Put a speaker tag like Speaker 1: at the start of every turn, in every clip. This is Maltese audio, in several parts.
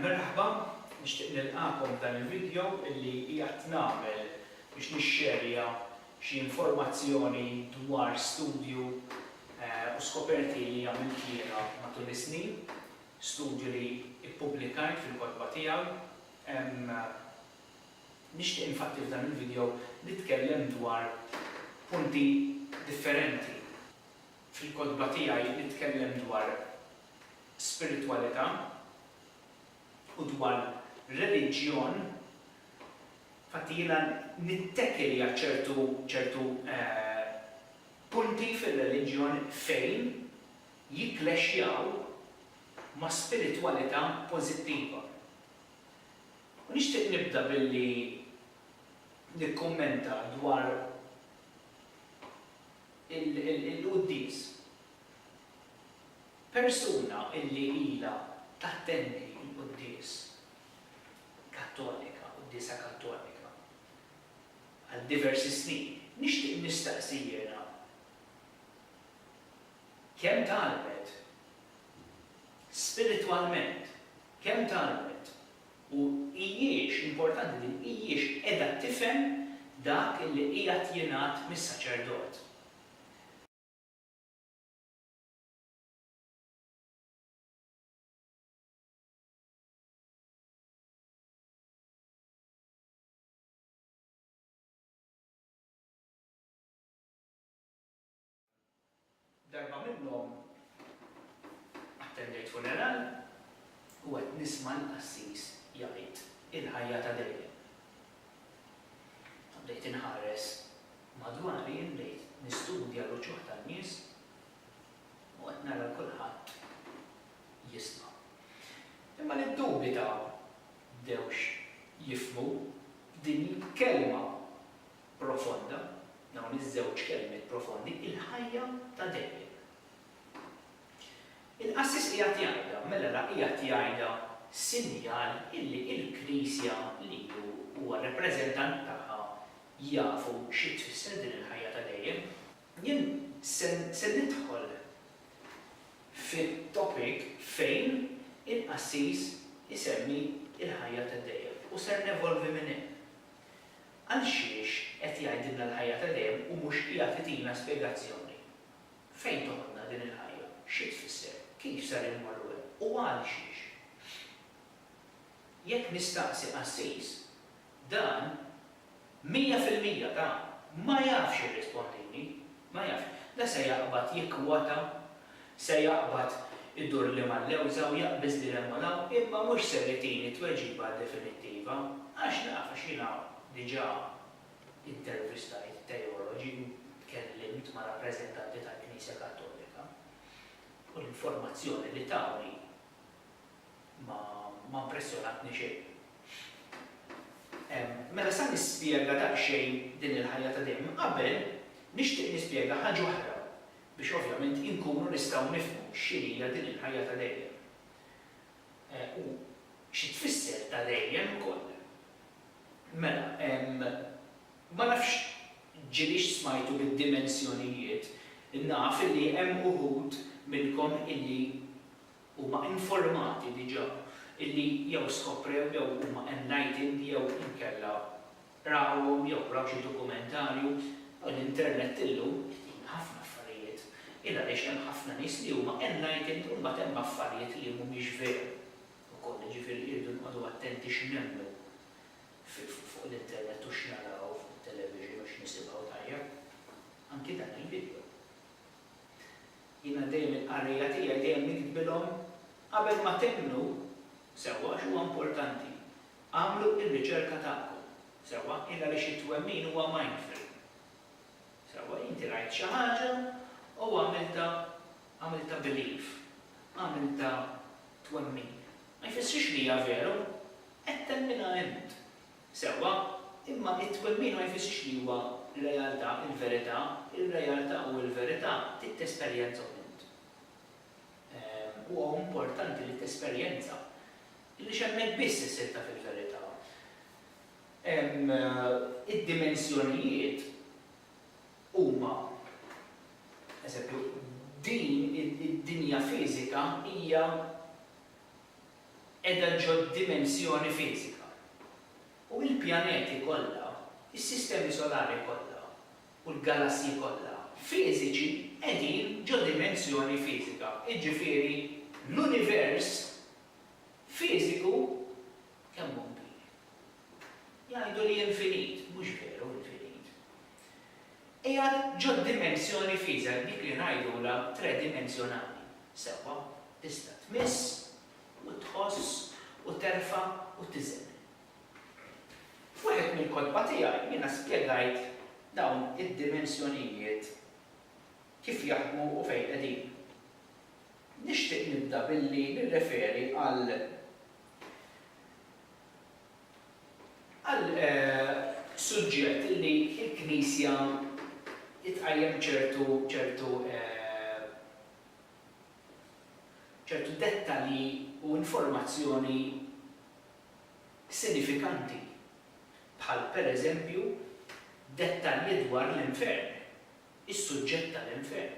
Speaker 1: Merħba, nixtieq nilqagħkom f'dan il-video illi qiegħed nagħmel biex nixxerja xi informazzjoni dwar studju u skoperti li għamilt jiena matul is-snin, studju li ppubblikajt fil-kotba tiegħi. Nixtieq infatti f'dan il-video nitkellem dwar punti differenti. Fil-kotba tiegħi nitkellem dwar spiritwalità u dwar reliġjon, infatti jiena nittekki li għad ċertu ċertu punti fir-reliġjon fejn jikklexxjaw ma' spiritwalità pożittiva. U nixtieq nibda billi nikkummenta dwar il-quddies. Persuna li ilha tattendi l-quddies kattolika, quddiesa kattolika, għal diversi snin, nixtieq nistaqsi jiena kemm tgħallmet spiritwalment, kemm tgħallmet u hijiex, importanti din, hijiex qiegħda tifhem dak li qiegħed jingħad mis-saċerdot. Darba minnhom attendejt funeral u qed nisma' l-qassis jgħid il-ħajja ta' dejjem. Bdejt inħares madwari, bdejt nistudja l-uċuħ tan-nies U qed nara lil kulħadd jisma'. Imma li ddubita bdewx jifhmu din il-kelma profonda, dawn iż-żewġ kelmiet profondi, il-ħajja ta' dejjem. Il-qassis qiegħed jgħidha, mela la qiegħed jgħidha sinjal illi l-Knisja li hu huwa r-rappreżentant tagħha jafu xi tfisser din il-ħajja ta' dejjem. Jien se nidħol fit-topic fejn il-qassis isemmi l-ħajja ta' dejjem u ser nevolvi minn hemm. Għalxiex qed jgħidilna l-ħajja ta' dejjem u mhux qiegħed itina spjegazzjoni? Fejn toħodna din il-ħajja? Xi tfisser? Kif ser immorru hemm? U għalxiex? Jekk nistaqsi qassis, Dan, mija fil-mija ta', ma jafx jirrispondini. Ma jafx. La se jaqbad jikkwota, se jaqbad idurli mal-lewża u jaqbiż lil hemm u 'l hawn, imma mhux ser itini tweġiba definittiva, għax naf, għax jiena diġà intervistajt teoloġi u tkellimt ma' rappreżentanti tal-Knisja Kattolika, u l-informazzjoni li tawni, ma ma mpressjonatni xejn. Ehm, mela sa nispjega daqsxejn din il-ħajja ta' dejjem. Qabel, nixtieq nispjega ħaġa oħra biex ovvjament inkunu nistgħu nifhmu x'inhija din il-ħajja ta' dejjem. Eh, u xi tfisser ta' dejjem ukoll. Mela, ehm, ma nafx ġiliex smajtu bid-dimensjonijiet, naf illi hemm uħud minnkom illi huma informati diġà illi jew skoprew jew huma enlightened jew inkella rawhom jew raw xi dokumentarju u l-internet illum jgħin ħafna affarijiet il għaliex hemm ħafna nies li huma enlightened u mbagħad hemm affarijiet li mhumiex veru wkoll jiġifieri irridu nqogħdu attenti x'nemmnu fuq l-internet u x'naraw fuq it-television u x'nisimgħu tajjeb anki dan il-video. Jiena dejjem il-qarrejja tiegħi dejjem niktbilhom qabel ma temmnu sewwa għax huwa importanti. Agħmlu r-riċerka tagħkom sewwa il għaliex it-twemmin huwa mindfree. Sewwa inti rajt xi ħaġa u għamiltha għamiltha belief, għamiltha twemmin. Ma jfissirx li hija vera, qed temminha int. Sewwa, imma t-twemmin ma jfissirx li huwa realtà, il-verità, ir-realtà u l-verità trid tesperjenza punt. Huwa importanti li tesperjenza li x'hemmhekk biss issir taf il-verità. Id-dimensjonijiet huma eżempju, din id-dinja fiżika hija. qiegħda ġod-dimensjoni fiżika, u l-pjaneti kollha, is-sistemi solari kollha, u l-galassji kollha, fiżiċi, qegħdin ġo-dimensjoni fiżika, jiġifieri l-univers fiżiku Kemm hu kbir? Jgħidu li infinit, mhux veru infinit. Qiegħed ġo dimensjoni f'iżgħek, dik li ngħidulha tredimensjonali. Sewwa, tista' tmiss u tħoss u terfa' u tiżen. F'wieħed mill-kotba tiegħi jiena spjegajt dawn id-dimensjonijiet kif jaħdmu u fejn qegħdin. Nixtieq nibda billi nirreferi għal għal suġġett li l-Knisja tqajjem ċertu ċertu ċertu dettalji u informazzjoni sinifikanti, bħal pereżempju dettalji dwar l-infern, is-suġġett tal-infern.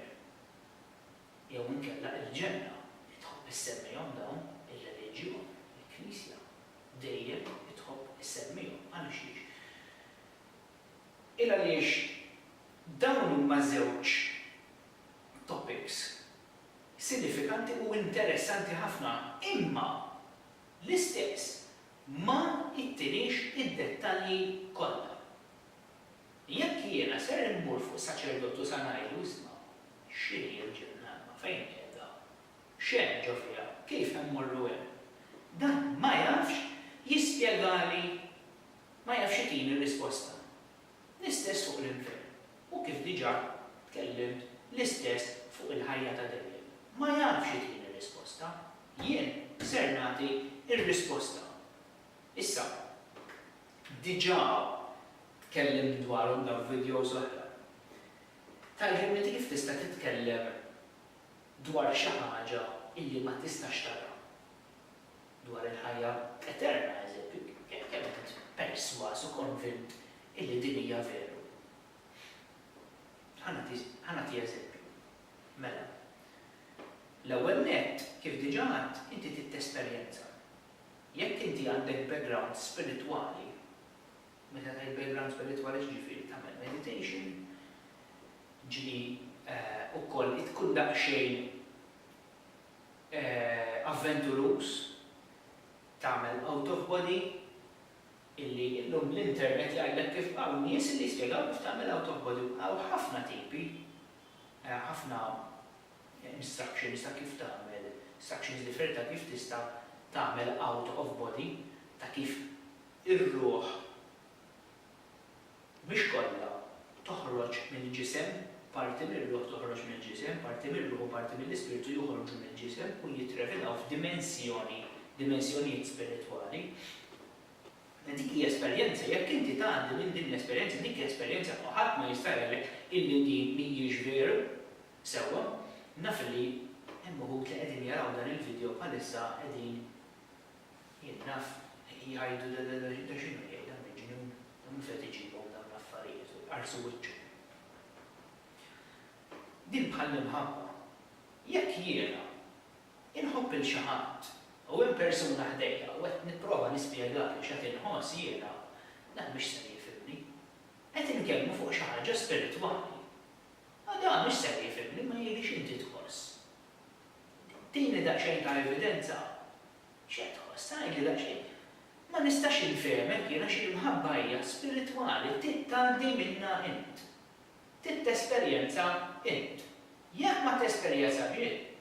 Speaker 1: jew inkella il-ġenna li tħobb issemmihom dawn ir-reliġjon, il-Knisja, dejjem tħobb issemmihom. Għaliex? Il għaliex dawn huma żewġ topics sinifikanti u interessanti ħafna imma l-istess ma jtiniex id-dettalji kollha. Jekk jiena ser immur fuq saċerdotu sa ngħidlu isma' X'inhi l-Ġennanna? Fejn qiegħda? X'hemm ġo fiha? Kif immorru hemm? Dan ma jafx jispjegali. Ma jafx itini risposta. L-istess fuq l-infern. U kif diġà tkellimt, l-istess fuq il-ħajja ta' dejjem. Ma jafx itini risposta. Jien ser nagħti r-risposta. Issa, diġà tkellimt dwarhom dawn videos oħra. Tgħallimni kif tista' titkellem dwar xi ħaġa illi ma tistax tara, dwar il-ħajja eterna, eżempju, kemm int persważ u konvint illi din hija veru. Ħa nagħti, ħa nagħti eżempju. Mela, l-ewwel nett, kif diġà għedt, inti trid tesperjenza. Jekk inti għandek background spiritwali, Meta tgħid background spiritwali x'ġifieri? Tagħmel meditation, ġieli wkoll tkun daqsxejn avventuruż, tagħmel out of body, illi illum l-internet jgħidlek kif hawn nies illi jispjegaw kif tagħmel out of body u hawn ħafna tipi, ħafna instructions ta' kif tagħmel, instructions differenti ta' kif tista' tagħmel out of body, ta' kif Ir-ruħ, mhix kollha, toħroġ mill-ġisem, parti mir-ruħ toħroġ mill-ġisem, parti mir-ruħ u parti mill-ispirtu joħorġu mill-ġisem u jittrevelaw f'dimensjoni, dimensjonijiet spiritwali. Dik hi esperjenza, jekk inti tgħaddi minn din l-esperjenza, dik hi esperjenza u ħadd ma jista' jgħidlek illi din mhijiex veru. Sewwa, naf illi hemm uħud li qegħdin jaraw dan il-video bħalissa qegħdin Jien naf li jgħidu da da da da x'inhu jgħid da miġnun, da mhux qed iġibhom dawn l-affarijiet u jqarrsu wiċċhom. Din bħall-imħabba. Jekk jiena inħobb lil xi ħadd u hemm persuna ħdejja u qed nipprova nispjegalu x'qed inħoss jiena, dan mhux ser jifhimni. Qed inkellmu fuq xi ħaġa spiritwali. A da mhux ser jifhimni, ma jgħidlix inti tħoss. Tini daqsxejn ta' evidenza. X'qed tħoss? Għidli daqsxejn. Ma nistax infehmek jien għax il-mħabba hija spiritwali, trid tgħaddi minnha int. Trid tesperjenza int. Jekk ma tesperjeżax int,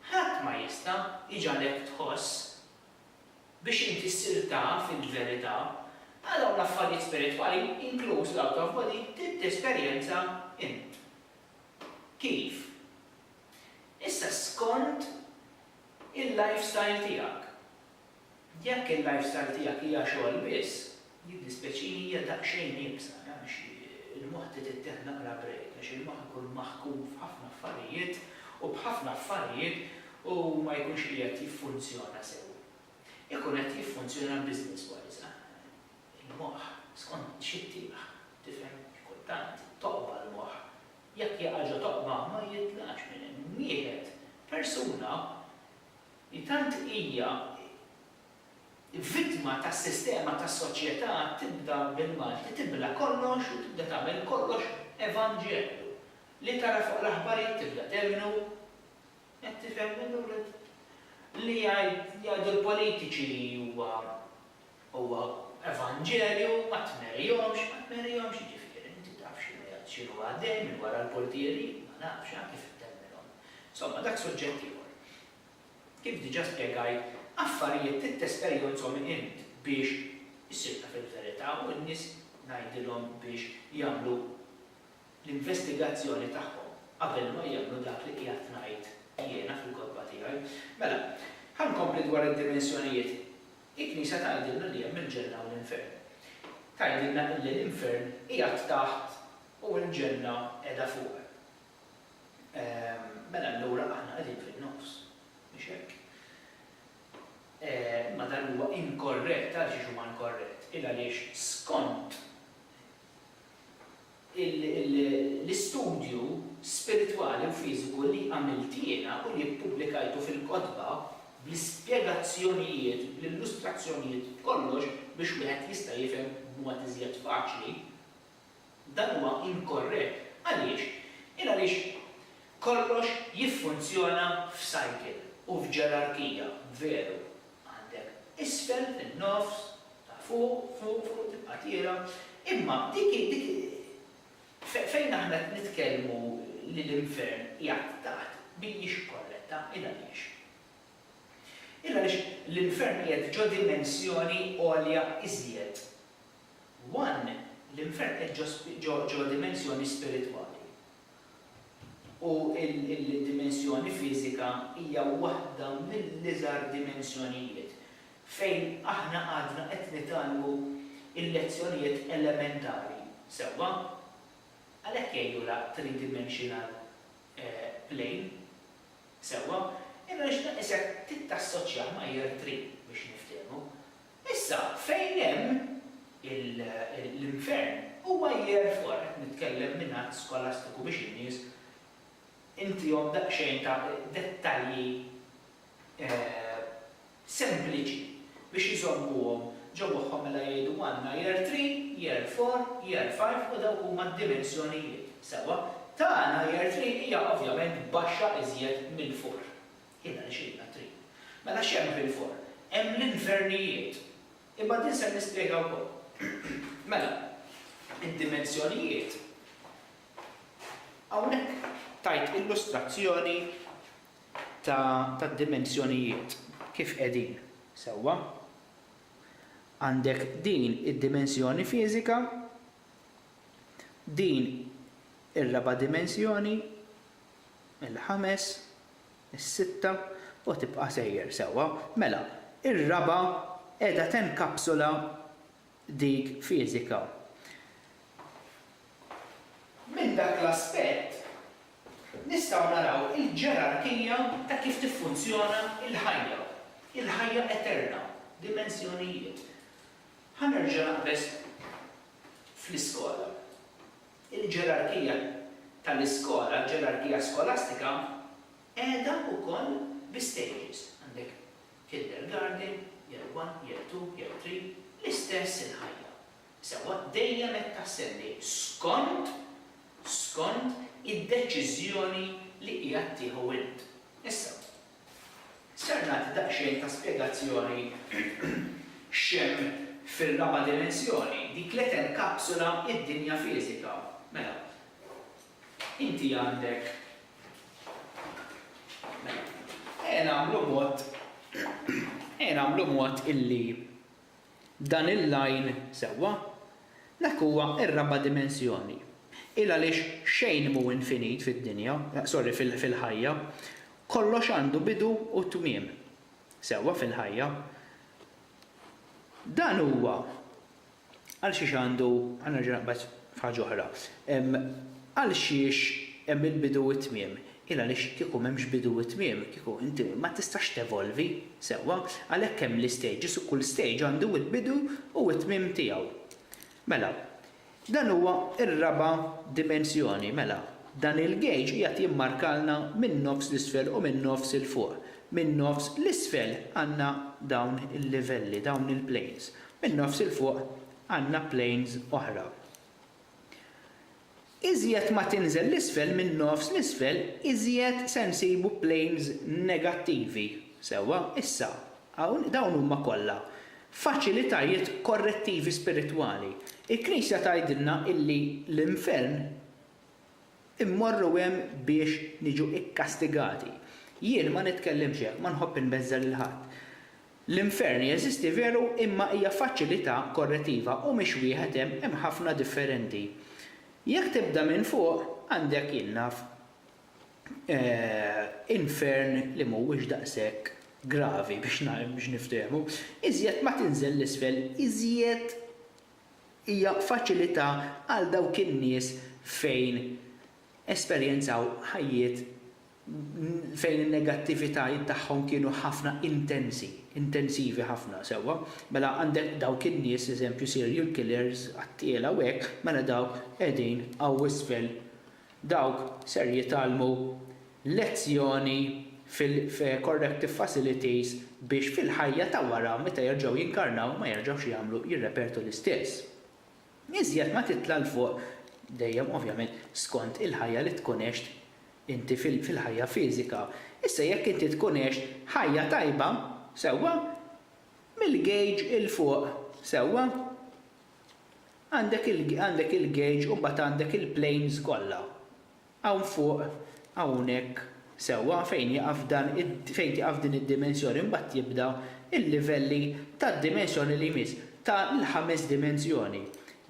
Speaker 1: ħadd ma jista' jġagħlek tħoss biex inti ssir taf il-verità. Għal dawn l-affarijiet spiritwali, inkluż l-out of body, trid tesperjenza int. Kif? Issa skont il-lifestyle tiegħek. Jekk il-lifestyle tiegħek hija xogħol biss, jiddispjaċini hija daqsxejn iebsa għax il-moħħ trid ittieħed naqra break għax il-moħħ ikun maħkum f'ħafna affarijiet u b'ħafna affarijiet u ma jkunx qiegħed jiffunzjona sew. Ikun qed jiffunzjona business wise. Il-moħħ skont xi ttieħ, tifhem, kultant toqba' l-moħħ. Jekk jaqa' ġo toqba ma jitlaqx minn hemm. Wieħed, persuna li tant hija vittma tas-sistema tas-soċjetà tibda bil-Malti tibla kollox u tibda tagħmel kollox evanġelju. Li tara fuq l-aħbarijiet tibda temmnu. Qed tifhem, Lilly? Li jgħidu l-politiċi li huwa Huwa evanġelju, ma tmerihomx, ma tmerihomx, jiġifieri, inti taf x'inhu jgħadd, x'inhu għaddej minn wara l-purtieri? Ma nafx, ha, kif ittemmilhom? Insomma, dak suġġett ieħor. Kif diġà spjegajt, affarijiet trid tesperjonzhom int biex issir taf il-verità u n-nies ngħidilhom biex jagħmlu l-investigazzjoni tagħhom qabel ma jemmnu dak li qiegħed ngħid jiena fil-kotba tiegħi. Mela, ħa nkompli dwar id-dimensjonijiet Il-Knisja tgħidilna li hemm il-Ġenna u l-Infern. Tgħidilna illi l-Infern qiegħed taħt u l-Ġenna qiegħda fuq. Ehm, mela allura aħna qegħdin fin-nofs, mhix hekk? Ehm, imma dan huwa inkorrett, għaliex huwa inkorrett? Il-għaliex skont L-istudju spiritwali u fiżiku li għamilt jiena u li ppubblikajtu fil-kotba bl-ispjegazzjonijiet, bl-illustrazzjonijiet, b'kollox biex wieħed jista' jifhem b'mod iżjed faċli, dan huwa inkorrett. Għaliex? Il għaliex kollox jiffunzjona f'cycle u f'ġerarkija, veru, Għandek isfel, fin-nofs, ta' fuq, fuq, fuq, tibqa' tiela'. Imma dik hi, dik hi, fejn aħna qed nitkellmu li l-infern qiegħed taħt mhijiex korretta. Ilgħaliex? Ilgħaliex l-infern qiegħed ġo dimensjoni għolja iżjed. One, l-infern qiegħed ġo, ġo, ġo dimensjoni spiritwali. u l-dimensjoni fiżika hija waħda mill-iżgħar dimensjonijiet fejn aħna għadna qed nitgħallmu l-lezzjonijiet elementari, sewwa? Għalhekk jgħidulha three-dimensional plane, sewwa? Imma nixtieq isek trid tassoċjah ma' year three biex niftehmu. Issa, fejn hemm l-infern, huwa jerfor, qed nitkellem minn att skolastiku biex in-nies intihom daqsxejn ta' dettalji sempliċi biex iżommuhom ġo moħħhom mela jgħidu għandna Year Three, Year Four, Year Five u dawk huma d-dimensjonijiet, sewwa, tagħna Year Three hija ovvjament baxxa iżjed mill-four. Hi dan ixilna t-triq. Mela x'hemm fil-forn? Hemm l-infernijiet. Imma din se nispjega wkoll. Mela, id-dimensjonijiet, hawnhekk tajt illustrazzjoni tad-dimensjonijiet kif qegħdin, sewwa? Għandek din id-dimensjoni fiżika, din ir-raba' dimensjoni, il-ħames, Is-sitta, u tibqa' sejjer sewwa. Mela, ir-raba' qiegħda tenkapsula dik fiżika. Minn dak l-aspett, nistgħu naraw il-ġerarkija ta' kif tiffunzjona l-ħajja, il-ħajja eterna, dimensjonijiet. Ħa nerġa' naqbeż fl-iskola. Il-ġerarkija tal-iskola, il-ġerarkija skolastika qiegħda wkoll bi stages. Għandek kindergarten, year one, year two, year three, l-istess il-ħajja. Sewwa, dejjem qed tassendi skont, skont id-deċiżjoni li qiegħed tieħu int. Issa, Ser nagħti daqsxejn ta' spjegazzjoni x'hemm fir-raba' dimensjoni, dik li tenkapsula d-dinja fiżika. Mela, inti għandek, mela, ejja nagħmlu mod, ejja nagħmlu mod illi Dan il-lajn sewwa? Dak huwa r-raba' dimensjoni. Il għaliex xejn mhu infinit fid-dinja, sorry, fil-ħajja. Kollox għandu bidu u tmiem. Sewwa fil-ħajja. Dan huwa għal xiex għandu, ħa nerġa' naqbad, F'ħaġa oħra, hemm għalxiex hemm il-bidu u t-tmiem. Il-għaliex kieku m'hemmx bidu u tmiem, kieku inti ma tistax tevolvi sewwa. Għalhekk hemm l-istages u kull stage għandu l-bidu u t-tmiem tiegħu. Mela, dan huwa r-raba' dimensjoni. Mela, dan il-gauge qiegħed jimmarkalna min-nofs 'l isfel u min-nofs 'il fuq. Min-nofs 'l isfel għandna dawn il-livelli, dawn il-planes. Min-nofs 'il fuq għandna planes oħra. Iżjed ma tinżel 'l isfel minn nofs 'l isfel iżjed se nsibu planes negattivi. Sewwa, issa, hawn dawn huma kollha faċilitajiet korrettivi spiritwali. Il-Knisja tgħidilna illi l-infern Immorru hemm biex niġu kkastigati. Jien ma nitkellimx hekk, ma nħobb inbeżża' lil ħadd. L-infern jeżisti veru imma hija faċilità korrettiva u mhix wieħed hemm, hemm ħafna differenti. Jekk tibda minn fuq, għandek, jien naf, infern li mhuwiex daqshekk gravi biex niftehmu, iżjed ma tinżel 'l isfel iżjed hija faċilità għal dawk in-nies fejn esperjenzaw ħajjiet fejn in-negattivitajiet tagħhom kienu ħafna intensi, intensivi ħafna, sewwa? Mela għandek dawk in-nies, eżempju, serial killers, qattiela u hekk, mela dawk qegħdin hawn isfel Dawk ser jitgħallmu lezzjoni fil-corrective facilities biex fil-ħajja ta' wara meta jerġgħu jinkarnaw ma jerġgħux jagħmlu, jirrepetu l-istess. Iżjed ma titla' 'l fuq, dejjem ovvjament skont il-ħajja li tkun għext inti fil-ħajja fiżika, issa jekk inti tkun għext ħajja tajba, sewwa, mill-gauge 'il fuq, sewwa, Għandek il-gauge u mbagħad għandek il-planes kollha. Hawn fuq, hawnhekk, sewwa, fejn jieqaf dan fejn tieqaf din id-dimensjoni mbagħad jibda l-livelli tad-dimensjoni li jmiss, ta' l-ħames dimensjoni.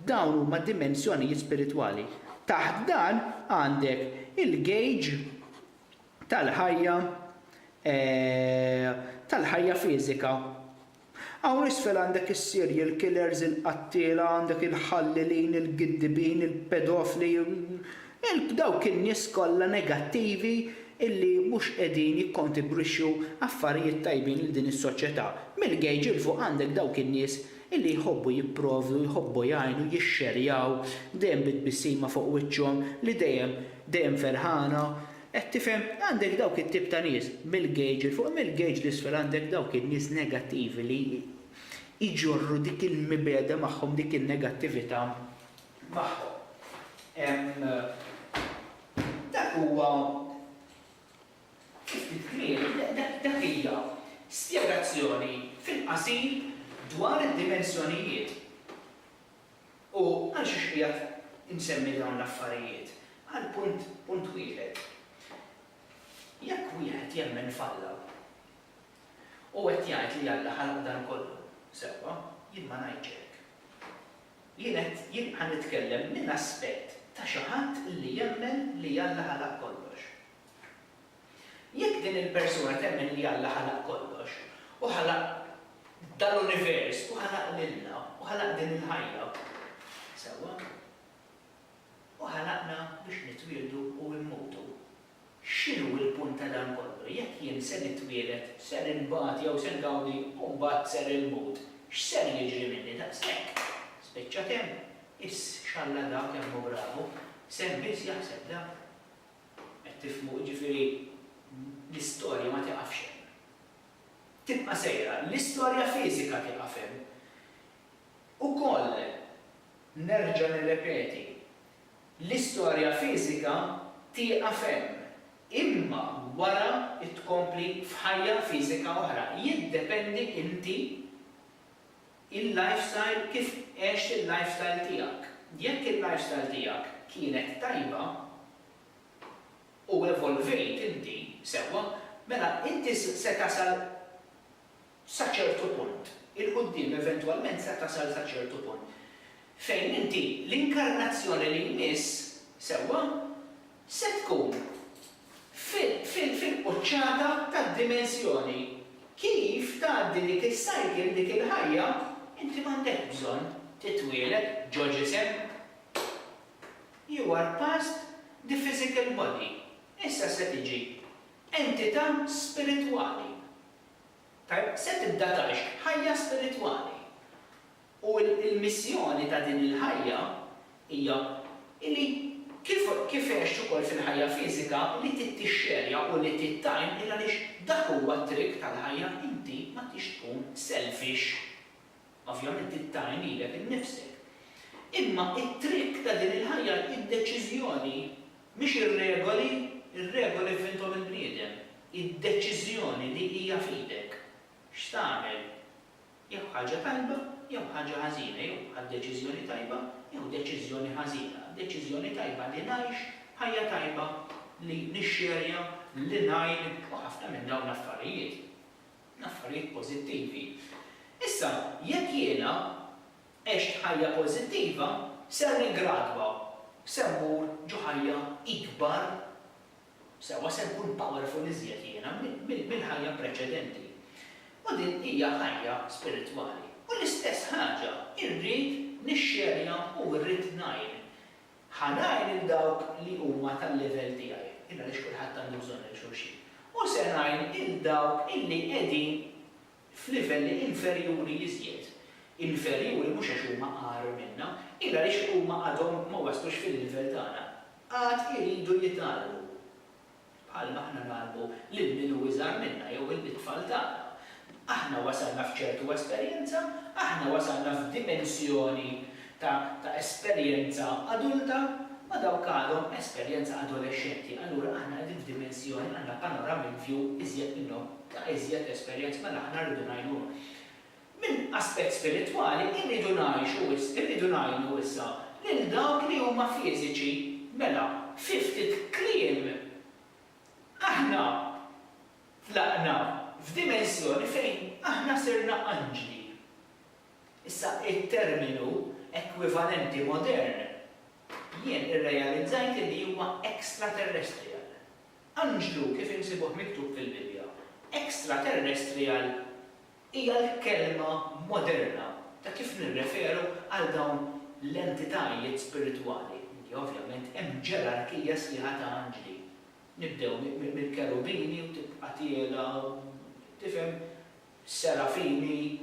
Speaker 1: Dawn huma dimensjonijiet spiritwali. Taħt dan għandek il-gauge tal-ħajja tal-ħajja fiżika. Hawn isfel għandek is-serial killers, il-qattiela, għandek il-ħallilin, il-giddibin, il-pedofli, dawk in-nies kollha negattivi illi mhux qegħdin jikkontibrixxu affarijiet tajbin lil din is-soċjetà. Mill-gauge 'il fuq għandek dawk in-nies illi jħobbu jipprovdu, jħobbu jgħinu, jixxerjaw, dejjem bi tbissima fuq wiċċhom, li dejjem, dejjem ferħana, Qed tifhem? Għandek dawk it-tip ta' nies, mill-gauge 'il fuq u mill-gauge 'l isfel għandek dawk in-nies negattivi li jġorru dik il-mibgħeda magħhom, dik in-negattività magħhom. Dak huwa, fi ftit kliem, dak hija spjegazzjoni fil-qasir dwar id-dimensjonijiet. U għalxiex qiegħed insemmi dawn l-affarijiet? Għal punt, punt wieħed. Jekk wieħed jemmen f'Alla, u qed jgħid li Alla ħalaq dan kollu, sewwa, jien ma ngħidx hekk. Jien qed, jien ħa nitkellem minn aspett ta' xi ħadd li jemmen li Alla ħalaq kollox. Jekk din il-persuna temmen li Alla ħalaq kollox, u ħalaq dal-univers, u ħalaq lilna, u ħalaq din il-ħajja, sewwa, u ħalaqna biex nitwieldu u mmutu, x'inhu l-punt ta' dan kollu? Jekk jien se nitwieled, ser inbati jew se ngawdi u mbagħad ser immut, x'ser jiġri minni? Daqshekk! Spiċċat hemm? Iss x'Alla da kemm hu bravu! Sehem biss jaħseb da! Qed tifhmu? Jiġifieri l-istorja ma tieqafx hemm. Tibqa' sejra. L-istorja fiżika tieqaf hemm. Ukoll, nerġa' nirrepeti, l-istorja fiżika tieqaf hemm, imma wara tkompli f'ħajja fiżika oħra. Jiddependi inti Il-lifestyle Kif għext il-lifestyle tiegħek? Jekk il-lifestyle tiegħek kienet tajba u evolvejt inti sewwa, mela inti se tasal sa ċertu punt, 'il quddiem eventwalment se tasal sa ċertu punt fejn inti l-inkarnazzjoni li jmiss sewwa se tkun fil-quċċata tad-dimensjoni. Kif tgħaddi dik is-cycle, dik il-ħajja, inti m'għandekx bżonn titwieled ġo ġisem. You are past the physical body. Issa se tiġi entità spiritwali. Tajjeb, se tibda tgħix ħajja spiritwali. U l-missjoni ta' din il-ħajja hija li kif kif għext ukoll fil-ħajja fiżika li ti tixxerja u li ti tgħin il għaliex dak huwa t-triq tal-ħajja inti ma tix tkun selfish. Ovvjament trid tgħin lilek innifsek. Imma t-triq ta' din il-ħajja hi d-deċiżjoni mhix ir-regoli, ir-regoli vvinthom il-bniedem. Hi d-deċiżjoni li hija f'idek x'tagħmel Jew ħaġa tajba jew ħaġa ħażina, jew ħadt deċiżjoni tajba jew deċiżjoni ħażina. Deċiżjoni tajba li ngħix ħajja tajba, li nixxerja, li ngħin u ħafna minn dawn l-affarijiet. L-affarijiet pożittivi. Issa, jekk jiena għext ħajja pożittiva, ser nigradwa, ser mmur ġo ħajja ikbar Sewwa se nkun powerful iżjed jiena mill-ħajja preċedenti. U din hija ħajja spiritwali. U l-istess ħaġa irrid nixxerja u rrid ngħin. Ħa ngħin lil dawk li huma tal-livell tiegħi, il għaliex kulħadd għandu bżonn lil xulxin. U se ngħin il dawk illi qegħdin f'livelli inferjuri iżjed. Inferjuri mhux għax huma agħar minna, il għaliex huma għadhom ma waslux fil-livell tagħna. Għad iridu jitgħallmu, bħal ma aħna ngħallmu lil min hu iżgħar minna jew lit-tfal tagħna. Aħna wasalna f'ċertu esperjenza, aħna wasalna f'dimensjoni ta' ta' esperjenza adulta, ma dawk għadhom esperjenza adolexxenti, allura aħna qegħdin f'dimensjoni, għandna panoramic view iżjed minnhom, ta' iżjed esperjenza, mela aħna rridu ngħinuhom. Minn aspett spiritwali, irridu ngħixu issa, irridu ngħinu issa lil dawk li huma fiżiċi. Mela, fi ftit kliem, aħna tlaqna f'dimensjoni fejn aħna sirna anġli. Issa, it-terminu ekwivalenti modern, jien irrealizzajt li huwa extraterrestrial. Anġlu, kif insibuh miktub fil-Bibbja, extraterrestrial Hija l-kelma moderna ta' kif nirreferu għal dawn l-entitajiet spiritwali, li ovvjament hemm ġerarkija sħiħa ta' anġli. Nibdew mill-kerubini u tibqa' tiela' u, tifhem, serafini,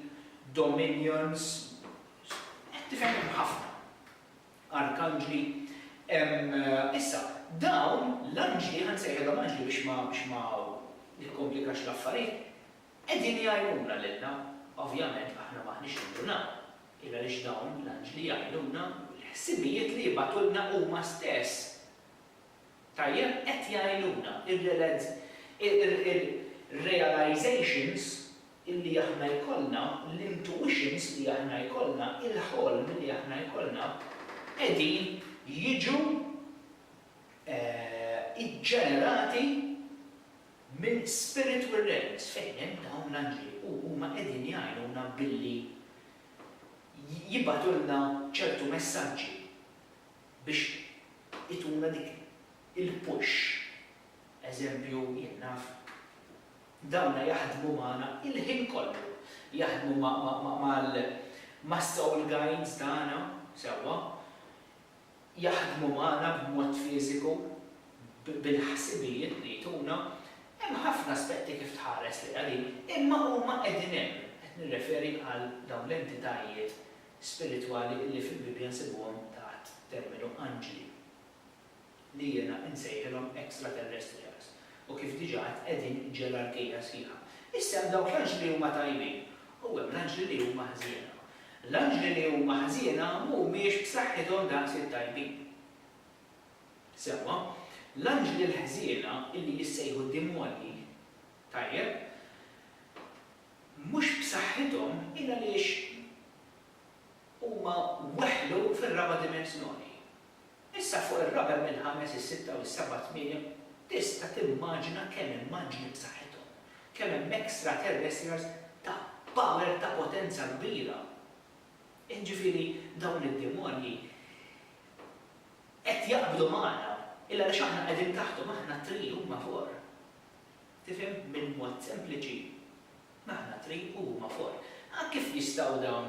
Speaker 1: dominions, qed tifhem, hemm ħafna. Arkanġli. Issa, dawn l-anġli, ħa nsejħilhom anġli biex ma nikkomplikax l-affarijiet, Qegħdin jgħinuna lilna. Ovvjament aħna m'aħniex nindunaw, il-għaliex dawn l-anġli jgħinuna. Il-ħsibijiet li jibgħatulna huma stess. Tajjeb? Qed jgħinuna. Ir-realizaitions li aħna jkollna, l-intuitions li aħna jkollna, il-ħolm li aħna jkollna, qegħdin jiġu iġġenerati. minn spiritu irrequs fejn hemm dawn l-anġli u huma qegħdin jgħinuna billi jibgħatulna ċertu messaġġi biex ituna dik il-push. Eżempju, jien naf, dawna jaħdmu magħna il-ħin kollu, jaħdmu ma' ma' ma' mal-soul guides tagħna, sewwa, jaħdmu magħna b'mod fiżiku bil-ħsibijiet li jtuna, hemm ħafna aspetti kif tħares lejha din, imma huma qegħdin hemm, qed nirreferi għal dawn l-entitajiet spiritwali li fil-Bibbja nsibuhom taħt terminu anġli, li jiena insejħilhom extraterrestrials, u kif diġà għedt qegħdin ġerarkija sħiħa. Issa hemm dawk l-anġli li huma tajbin u hemm l-anġli li huma ħżiena. L-anġli li huma ħżiena mhumiex b'saħħithom daqs it-tajbin. Sewwa, l-anġli l-ħżiena, li jissejħu d-dimonji, tajjeb, mhux b'saħħithom hi għaliex huma weħlu fir-raba' dimensjoni. Issa fuq ir-raba' mill-ħames, is-sitta u s-seba' tmiem, tista' timmaġina kemm immaġni b'saħħithom, kemm hemm extraterrestrials ta' power ta' potenza kbira. Jiġifieri dawn id-demonji qed jaqbdu magħna, il għaliex aħna qegħdin taħthom, aħna tree huma four. Tifhem? Bil-mod sempliċi, aħna tree u huma four. Kif jistgħu dawn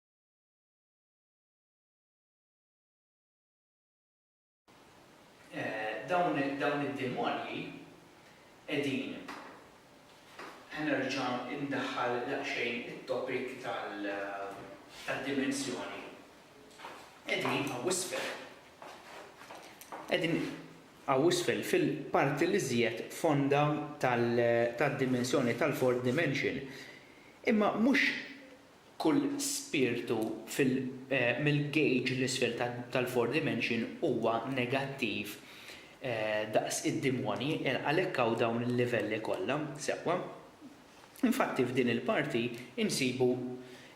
Speaker 1: dawn id-demonji qegħdin ħanerġa' indaħħal daqsxejn it-topic tal-dimensjoni. Qegħdin hawn isfel. Qegħdin hawn isfel fil-parti li żjed fonda tad-dimensjoni tal-fourth dimension. Imma mhux Kull spirtu fil mill-gauge 'l isfel tal four dimension huwa negattiv daqs id-dimonji, għalhekk hawn dawn il-livelli kollha, sewwa. Infatti f'din il-parti insibu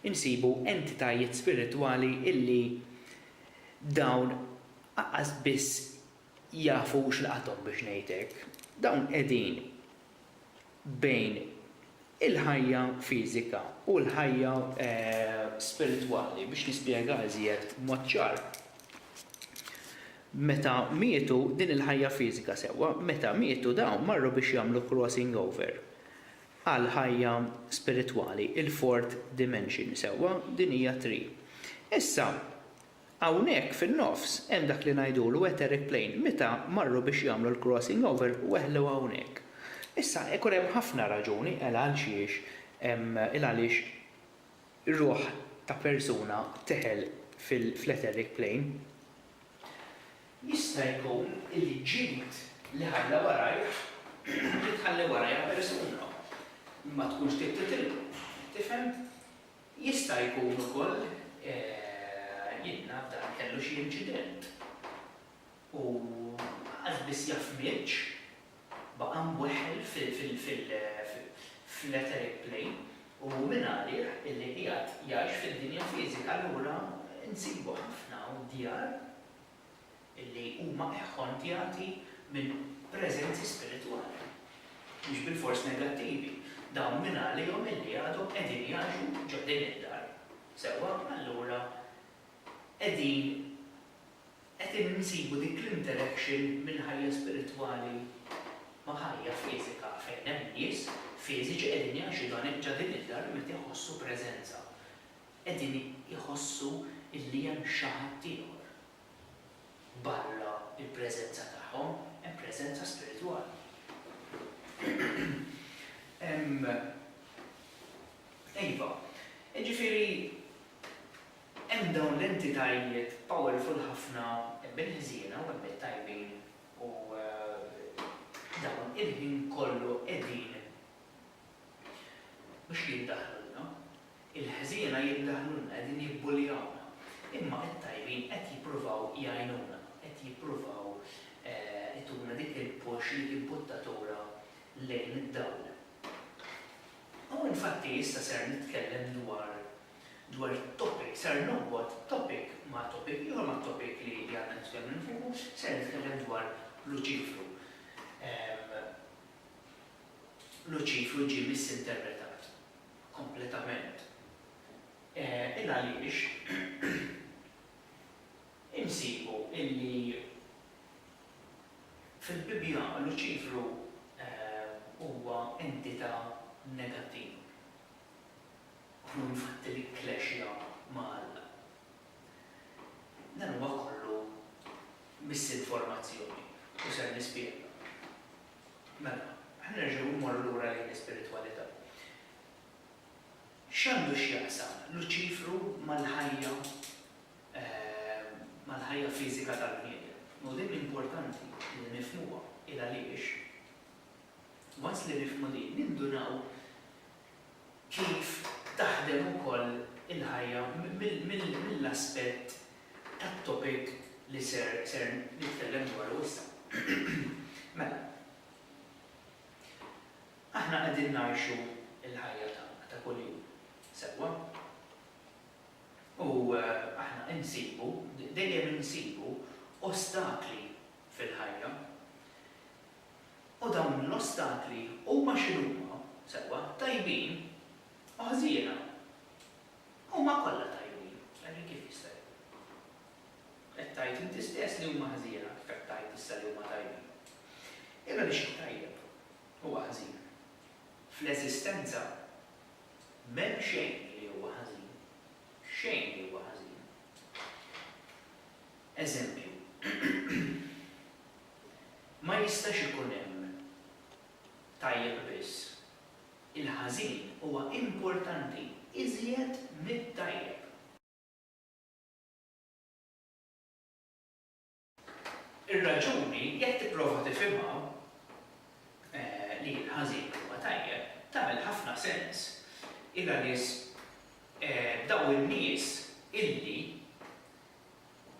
Speaker 1: insibu entitajiet spiritwali illi dawn aqqas biss jafu x'laqathom biex ngħid hekk, dawn qegħdin bejn il-ħajja fiżika u l-ħajja spiritwali, biex nispjega iżjed b'mod ċar. Meta mietu din il-ħajja fiżika sewwa, meta mietu dawn marru biex jagħmlu crossing over għal ħajja spiritwali, il-fourth dimension sewwa, din hija tri. Issa, Hawnhekk fin-nofs hemm dak li ngħidulu etheric plane meta marru biex jagħmlu l-crossing over weħlu hawnhekk. Issa ikun hemm ħafna raġuni għal għalxiex il għaliex ruħ ta' persuna teħel fl-etheric plane. Jista' jkun li ġid li ħalla warajh li tħalli warajha persuna. Ma tkunx trid titilqu. Tifhem? Jista' jkun ukoll jingħad dan kellu xi inċident u qas biss jaf miex, baqa' mweħħel fl-etheric plane u hu mingħalih illi qiegħed jgħix fid-dinja fiżika allura nsibu ħafna hawn djar illi huma ehhondjati minn preżenzi spiritwali, mhux bilfors negattivi, dawn min għalihom illi għadhom qegħdin jgħixu ġo din id-dar. Sewwa, allura qegħdin qed insibu dik l-interaction minn ħajja spiritwali ma' ħajja fiżika fejn hemm nies fiżiċi qegħdin jgħixu dan ġo din id-dar li meta jħossu preżenza qegħdin jħossu illi hemm xi ħadd ieħor Barra l-preżenza tagħhom hemm preżenza spiritwali. Hemm iva, jiġifieri hemm dawn l-entitajiet powerful ħafna hemm il-ħżiena u hemm it-tajbin u dawn il-ħin kollu qegħdin Mhux li jiddaħħlulna. Il-ħżiena jiddaħħlulna, qegħdin jibbuljawna. Imma t-tajbin qed jippruvaw jgħinuna, qed jippruvaw ituna dik il-push, dik il-buttatura lejn id-dawl. U infatti issa ser nitkellem dwar dwar topic, ser norbot topic ma' topic ieħor, ma' topic li għadna nitkellmu fuqu, ser nitkellem dwar Luċifru. Luċifru ġie misinterpretat kompletament il għaliex insibu illi fil-Bibbja Luċifru huwa entità negattiva u hu infatti li kklexja ma' Alla. Dan huwa kollu misinformazzjoni u ser nispjega. Mela, aħna nerġgħu mmorru lura lejn l-ispiritwalità. X'għandu x'jaqsam Luċifru mal-ħajja mal-ħajja fiżika tal-bniedem? U din importanti li nifhmuha, il-għaliex, once li nifhmu din, nindunaw, kif taħdem ukoll il-ħajja mill-aspett tat-topic li ser nitkellem dwaru issa. Mela, aħna qegħdin ngħixu l-ħajja tagħna ta' kuljum, sewwa? U aħna insibu, dejjem insibu, ostakli fil-ħajja. U dawn l-ostakli huma x'inhuma, sewwa, tajbin u ħżiena? Huma kollha tajbin, għalhekk kif jista' jkun? Qed tgħid inti stess li huma ħżiena, kif qed tgħid issa li huma tajbin? Jien għaliex xi tajjeb huwa ħżin? Fl-eżistenza m'hemm xejn li huwa ħażin, xejn li huwa ħażin. Eżempju. Ma jistax ikun hemm tajjeb biss. Il-ħażin huwa importanti iżjed mit-tajjeb. Ir-raġuni, jekk tipprova tifhimha, li l-ħażin huwa tajjeb, tagħmel ħafna sens. Hi għaliex dawn in-nies illi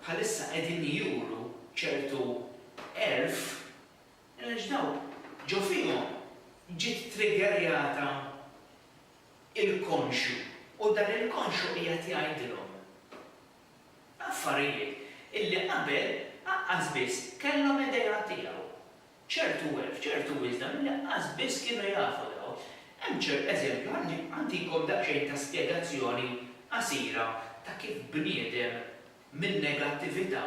Speaker 1: bħalissa qegħdin juru ċertu għerf għaliex dawk ġo fihom ġiet triggerjata il-konxju u dan il-konxju qiegħed jgħidilhom affarijiet illi qabel aqqas biss kellhom idea tiegħu. Ċert hu hekk, ċert hu iżda li laqqas biss kienu jafu dawn. Hemm ċert eżempju, ħalli ntikom daqsxejn ta' spjegazzjoni qasira ta' kif bniedem min-negattività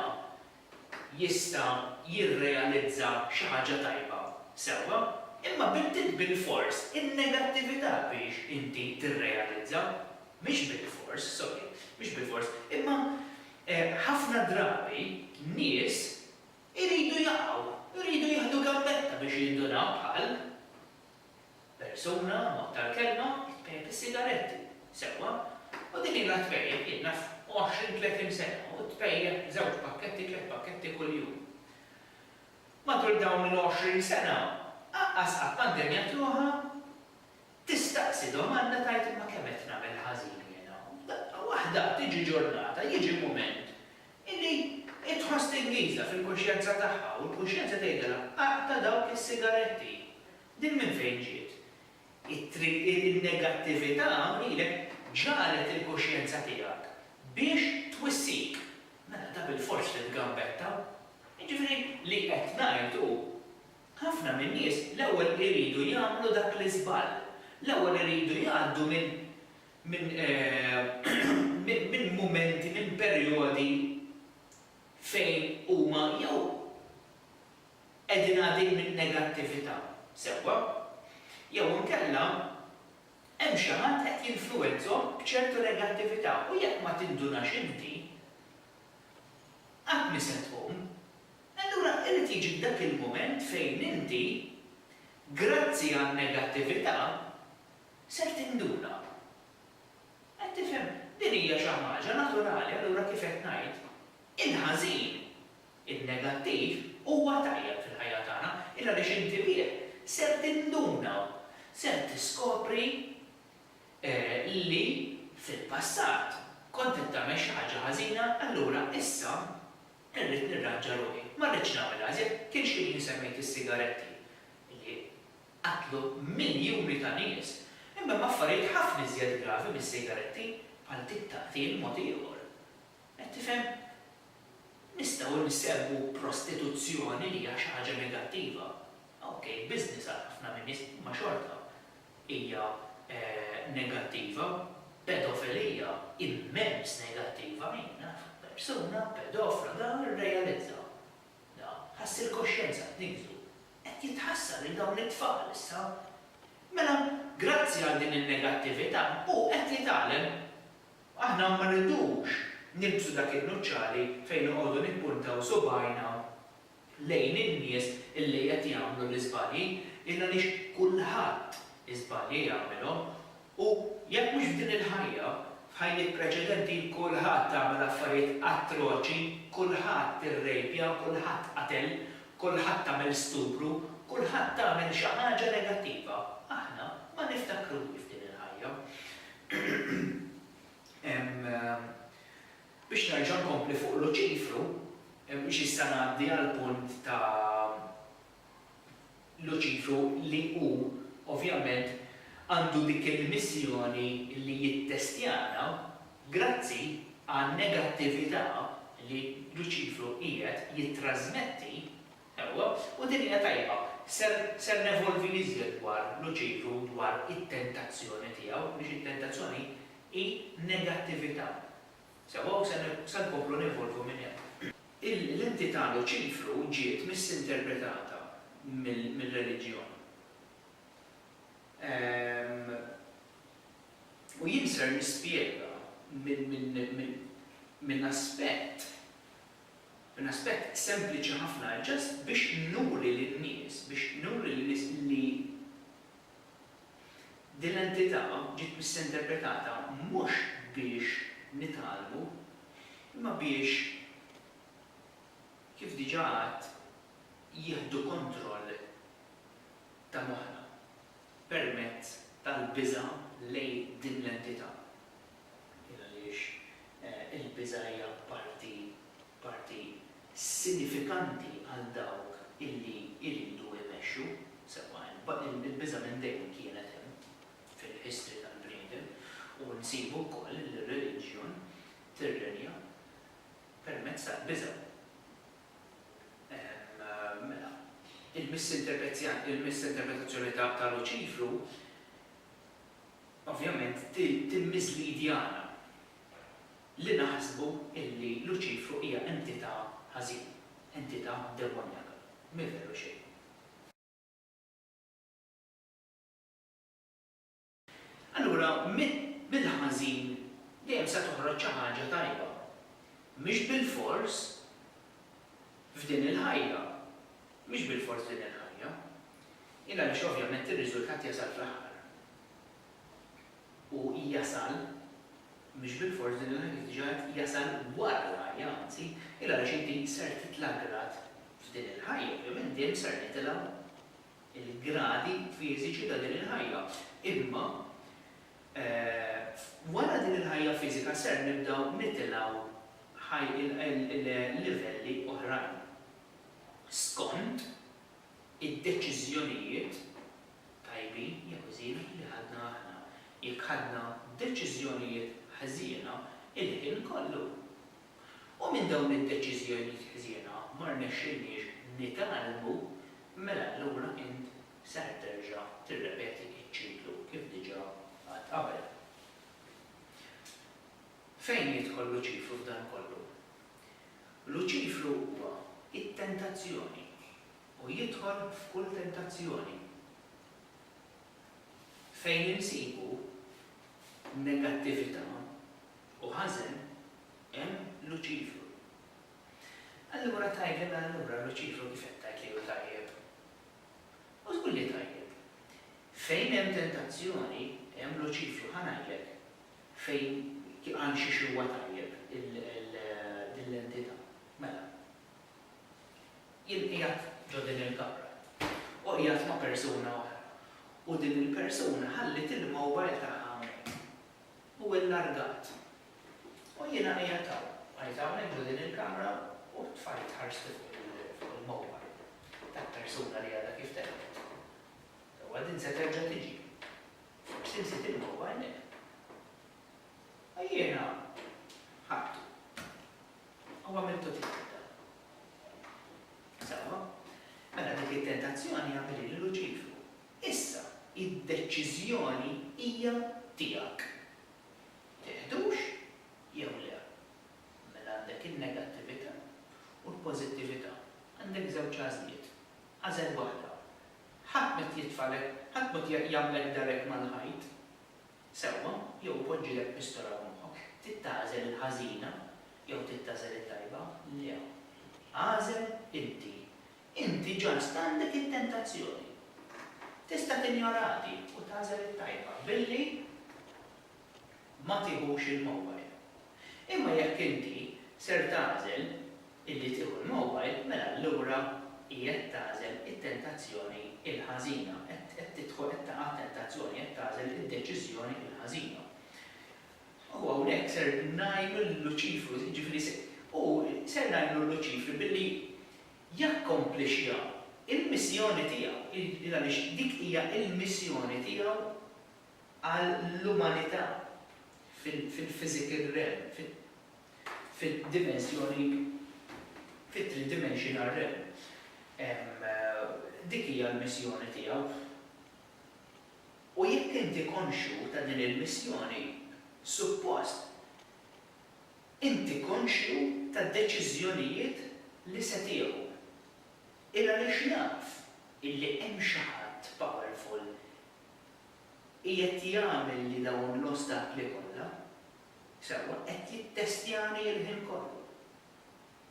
Speaker 1: jista' jirrealizza xi ħaġa tajba. Sewwa, imma b'intit bilfors in-negattività biex inti tirrealizza. Mhix bilfors, sorry, mhix bilfors. Imma ħafna drabi nies Iridu jaqgħu, iridu jieħdu gambetta biex jindunaw bħal persuna, mod tal-kelma, it-tpejjep is-sigaretti, sewwa, u din ilha tpejjep, jien naf, għoxrin tletin sena u tpejjep żewġ pakketti, tliet pakketti kuljum. Matul dawn il-għoxrin sena, anqas qatt ma ndennjat ruħha Tistaqsi domanda tgħid imma kemm qed nagħmel ħażin jien hawn? Daqqa waħda tiġi ġurnata, jiġi mument illi hi tħoss tinghizha fil-kuxjenza tagħha u l-kuxjenza tgħidilha aqta' dawk is-sigaretti. Din minn fejn ġiet? It-triq in-negattività hawn ilek ġagħlet il-kuxjenza tiegħek biex twissik. Mela da bilfors titgambetta. Jiġifieri li qed ngħid hu. Ħafna min-nies l-ewwel iridu jagħmlu dak l-iżball. L-ewwel iridu jgħaddu minn minn minn mumenti, minn perjodi fejn huma jew qegħdin għadin minn negattività, sewwa? Jew inkella hemm xi ħadd qed jinfluwenzahom b'ċertu negattività u jekk ma tindunax inti, qatt m'se tqum. E allura irid jiġi dak il-mument fejn inti, grazzi għan-negattività, ser tinduna. Qed tifhem? Din hija xi ħaġa naturali, allura kif qed ngħid, il-ħażin, in-negattiv, huwa tajjeb fil-ħajja tagħna, il għaliex inti bih ser tinduna, ser tiskopri li fil-passat kont qed tagħmel xi ħaġa ħażina, allura issa Irrid nirranġa ruħi. Ma rridtx nagħmilha iżjed. Kien xi ħin semmejt is-sigaretti li qatlu miljuni ta' nies, imma hemm affarijiet ħafna iżjed gravi mis-sigaretti, bħal dik ta' qtil mod ieħor. Qed tifhem? Nistgħu nsemmu prostituzzjoni li hija xi ħaġa negattiva. Okej, business għal ħafna min-nies, imma xorta. hija negattiva, pedofelija immens negattiva min naf persuna pedofla dan irrealizza da ħass il-koxjenza tniżżu qed jitħassar lil dawn it-tfal issa mela grazzi għal din in-negattività hu qed jitgħallem aħna ma rridux nilbsu dak in-nuċċali fejn noqogħdu nippuntaw subgħajna lejn in-nies illi qed jagħmlu l-iżbalji, il għaliex kulħadd iżbalji jagħmilhom, u jekk mhux f'din il-ħajja, f'ħajjiet preċedenti kulħadd għamel affarijiet atroċi, kulħadd irrejpja, kulħadd qatel, kulħadd għamel stupru, kulħadd għamel xi ħaġa negattiva, aħna ma niftakruhiex f'din il-ħajja. Hemm. Biex nerġa' nkompli fuq Luċifru, mhux issa ngħaddi għall-punt ta' Luċifru li hu ovvjament għandu dik il-missjoni li jittestjana grazzi għan-negattività li Luċifru qiegħed jittrażmetti Ewwa, u din hija tajba. Ser, ser nevolvi l-iżjed dwar Luċifru u dwar it-tentazzjoni tiegħu, għaliex it-tentazzjoni hi negattività. Sewwa, u se, se nkomplu nevolvu minn hemm. Il, l-entità Luċifru ġiet misinterpretata mill, mir-reliġjon. Ehm, u jien ser nispjega minn, minn, minn, minn aspett Minn aspett sempliċi ħafna, just biex nuri lin-nies, biex nuri lin-nies li din l-entità ġiet misinterpretata mhux biex nitgħallmu, imma biex, kif diġà għedt, jieħdu kontroll ta' moħħna permezz tal-biża' lejn din l-entità. Kien għaliex il-biża' hija parti, parti sinifikanti għal dawk illi jridu jmexxu, sewwa il-biża' minn dejjem kienet hemm fil-history tal-bniedem u nsibu wkoll li r-reliġjon tirrenja permezz tal-biża'. Mela, il-misinterpetja, il-misinterpretazzjoni ta' Luċifru, ovvjament timmiżlidi għana li naħsbu illi Luċifru hija entità ħażina, entità demonjaka. Mhi veru xejn. Allura mill-ħażin dejjem se toħroġ xi ħaġa tajba. Mhix bilfors f'din il-ħajja, Mhix bilfors din il-ħajja. Hi għaliex ovvjament ir-riżultat jasal fl-aħħar. U jasal, mhix bilfors din il-ħajja kif diġà għedt, jasal wara l-ħajja anzi, hi għaliex inti ser titla' grad f'din il-ħajja, ovvjament dejjem ser nitilgħu l-gradi fiżiċi ta' din il-ħajja. Imma wara din il-ħajja fiżika ser nibdew nitilgħu livelli oħrajn. skond id-deċiżjonijiet, tajbin jew ħżiena, li ħadna aħna. Jekk ħadna deċiżjonijiet ħżiena, il-ħin kollu. U minn dawn id-deċiżjonijiet ħżiena ma rnexxilniex nitgħallmu, mela allura int ser terġa' tirrepeti ċ-ċiklu kif diġà għedt qabel. Fejn jidħol Luċifru f'dan kollu? Luċifru huwa it-tentazzjoni u jidħol f'kull tentazzjoni fejn insibu negattività u ħażen hemm Luċifru. Allura tgħidli mela allura Luċifru kif qed tgħid li hu tajjeb? U żgur li tajjeb. Fejn hemm tentazzjoni hemm Luċifru ħa ngħidlek Fejn għand xi xewwa tajjeb din l-entità. Mela. Jien qiegħed ġo din il-kamra u qiegħed ma' persuna oħra u din il-persuna ħalliet il-mowbajl tagħha hawnhekk u illargat. U jiena qiegħed hawn. Qiegħed hawnhekk ġo din il-kamra u t-tfajt ħarsti fuq il-mowbajl tal-persuna li għadha kif telqet. Sewwa din se terġa' tiġi. Forsi nsiet il-mobile u jiena ħadtu u għamiltu tiegħi dan. Sewwa, mela dik it-tentazzjoni għamilha lil Luċifru. Issa, id-deċiżjoni hija tiegħek. Tiħdux jew le. Mela għandek in-negattività u l-pożittività. Għandek żewġ għażliet. Agħżel waħda. Ħadd m'qed jitfagħlek, ħadd m'qed jagħmlek darek mal-ħajt. Sewwa, jew ipoġġilek pistola f'moħħok, trid tagħżel il-ħażina jew trid tagħżel it-tajba? Le. Agħżel inti. Inti ġast għandek it-tentazzjoni. Tista' tinjora di u tagħżel it-tajba billi. ma tiħux il-mowbajl. Imma jekk inti ser tagħżel illi tieħu l-mowbajl mela allura qiegħed tagħżel it-tentazzjoni l-ħażina, qed tidħol qed taqa' t-tentazzjoni, qed tagħżel id-deċiżjoni l-ħażina. U hawnhekk ser ngħinu lil Luċifru, jiġifieri se, u ser ngħinu lil Luċifri billi jakkomplixxa l-missjoni tiegħu, għaliex dik hija l-missjoni tiegħu għall-umanità fil-physical realm, fid-dimensjoni, fit-three-dimensional realm. Dik hija l-missjoni tiegħu. U jekk inti konxju ta' din il-missjoni, suppost inti konxju tad-deċiżjonijiet li se tieħu. Ilgħaliex naf illi hemm xi ħadd powerful Qiegħed jagħmel li dawn l-ostakli kollha, sewwa, qed jittestjani l-ħin kollu.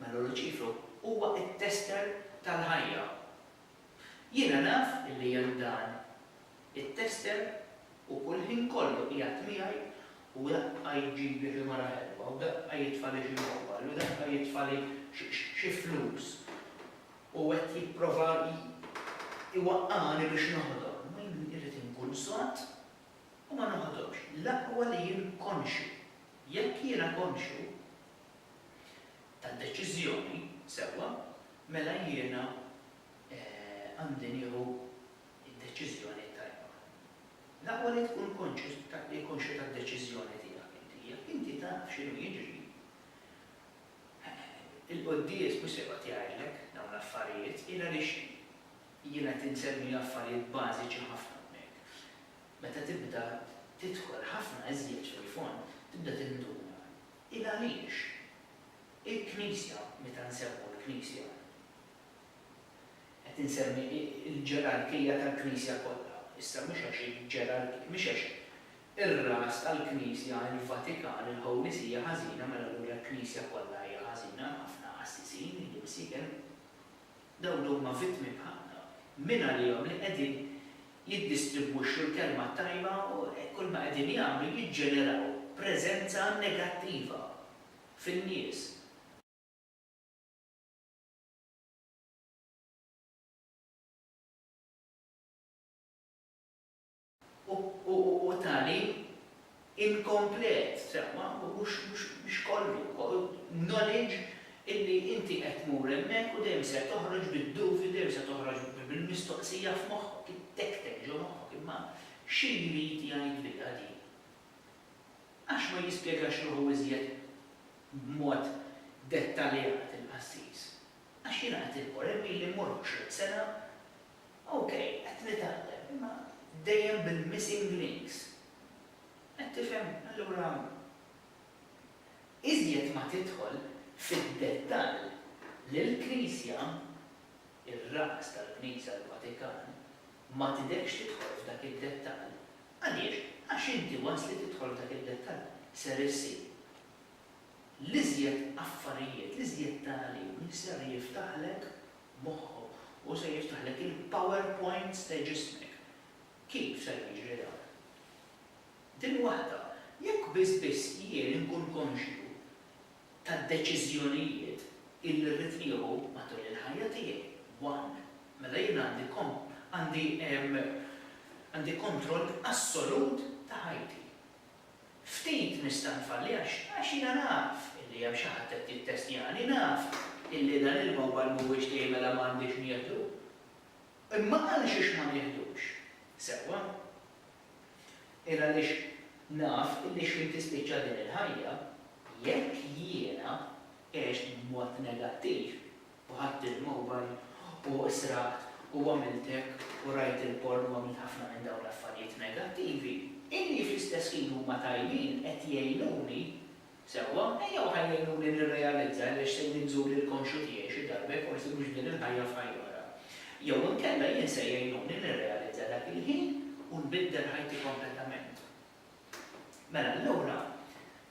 Speaker 1: Mela Luċifru huwa t-tester tal-ħajja. Jiena naf li hemm dan it-tester u kull ħin kollu qiegħed miegħi u daqqa jġibli xi mara ħelwa u daqqa jitfali xi mobile u daqqa jitfali xi flus. u qed jipprova jwaqqagħni biex noħodhom, imma jien irrid inkun sod u ma noħodhomx. L-aqwa li jien konxju. Jekk jiena konxju tad-deċiżjoni, sewwa, mela jiena għandi nieħu d-deċiżjoni t-tajba. L-aqwa li tkun konxju tad-deċiżjoni tiegħek inti. Jekk inti taf x'inhu jiġri, Il-quddies mhux se joqgħod jgħidlek dawn l-affarijiet, il għaliex jien qed insemmi affarijiet bażiċi ħafna hawnhekk. Meta tibda tidħol ħafna iżjed fil-fond, tibda tinduna il għaliex il-Knisja, meta nsemmu l-Knisja, qed insemmi l-ġerarkija tal-Knisja kollha, issa mhux għax il-ġerarkija, mhix għax Ir-ras tal-Knisja hi l-Vatikan, il-Holy See hija ħażina, mela allura l-Knisja kollha hija ħażina, ħafna qassisin ilu msiken. Dawn li huma vittmi bħalna, min għalihom li qegħdin jiddistribwixxu l-kelma t-tajba u hekk kull ma qegħdin jagħmlu jiġġeneraw preżenza negattiva fin-nies. u tagħlim inkomplet, sewwa, mhux mhux kollu, knowledge illi inti qed tmur hemmhekk u dejjem ser toħroġ bid-dubju, dejjem se toħroġ bil-mistoqsija f'moħħok, ittektek ġo moħħok, imma xi jrid jgħidilha din? Għax ma jispjegax ruħu iżjed b'mod dettaljat il-qassis? Għax jiena qed immur, hemm ili mmur 20 sena, Ok, qed nitgħallem, imma dejjem bil-missing links. Qed tifhem? Allura, iżjed ma tidħol fid-dettall li l-Knisja, ir-ras tal-Knisja l-Vatikan, ma tidhekx tidħol f'dak id-dettall. Għaliex? Għax inti waqt li tidħol f'dak id-dettall ser issib l-iżjed affarijiet, l-iżjed tagħlim li ser jiftaħlek moħħu u se jiftaħlek il-powerpoints ta' ġismek. Kif ser jiġri dan? Din waħda, jekk biss biss jien inkun konxju tad-deċiżjonijiet illi rrid nieħu matul il-ħajja tiegħi, one, mela jien għandi għandi għandi kontroll assolut ta' ħajti. Ftit nista' nfalli għax għax jiena naf illi hemm xi ħadd qed jittestjani, naf illi dan il-mowbajl mhuwiex tiegħi mela ma għandix nieħdu. Imma għalxiex ma nieħdux? Sewwa. Il għaliex naf illi xħin tispiċċa din il-ħajja, jekk jiena għext b'mod negattiv, u ħadt il-mobile u sraqt u għamilt hekk u rajt il-porn u għamilt ħafna minn dawn l-affarijiet negattivi, illi fl-istess ħin huma tajbin, qed jgħinuni, sewwa, ejja u ħa jgħinuni nirrealizza għaliex se jien nżur lil konxju tiegħi xi darba jekk forsi mhux f'din il-ħajja f'ħajja oħra. Jew inkella jien se jgħinuni nirrealizza dak il-ħin u nbiddel ħajti kompletament. Mela allura,